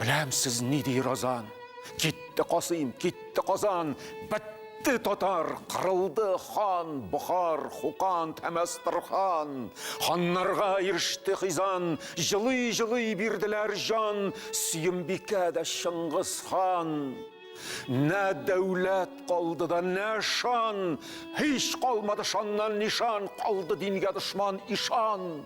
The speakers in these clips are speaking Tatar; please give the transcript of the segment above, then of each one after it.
Беләм сез ни ди Розан. Китте Касыйм, китте Казан, бетте татар, кырылды хан, Бохар, Хукан, Тәмәстрхан. Ханнарга иреште Хизан, җылый-җылый бирделәр җан, Сөембикә дә Чыңгыз хан. Нә дәүләт калды да, нә шан, Һич калмады шаннан нишан, Калды дингә дошман ишан.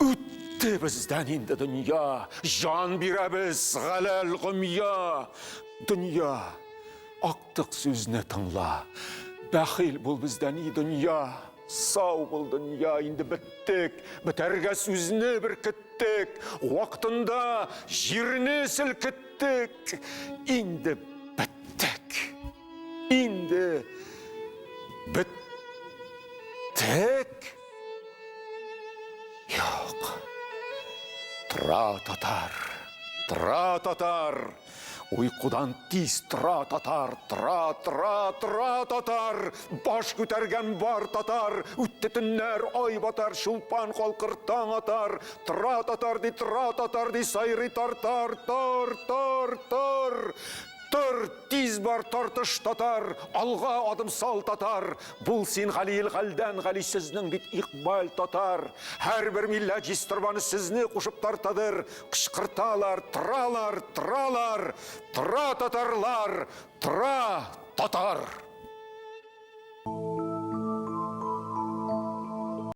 Үтте бездән инде дөнья, Җан бирәбез галәл гомья. Дөнья, актык сүзне тыңла, Бәхил бул бездән, и дөнья. Сау бул, дөнья, инде беттек, Бетәргә сүзне беркеттек, Вактында җирне селкеттек, Инде беттек, инде беттек. Юк. Тора татар. Тора татар. Уйкудан тиз тора татар, тора, тора, тора татар, баш күтәргән бар татар, үтте төннәр, ай батар, шулпан калкыр таң атар, тора татар ди, тора татар ди, сайрый тартар, тар, тар, тар. Тор, тиз бар, тартыш татар, Алга адым сал татар, Бул син гали ил галдән гали, Сезнең бит икбаль татар. Һәрбер милләт җиз торбаны Сезне кушып тартадыр, Кычкырталар, торалар, торалар, Тора татарлар, тора татар!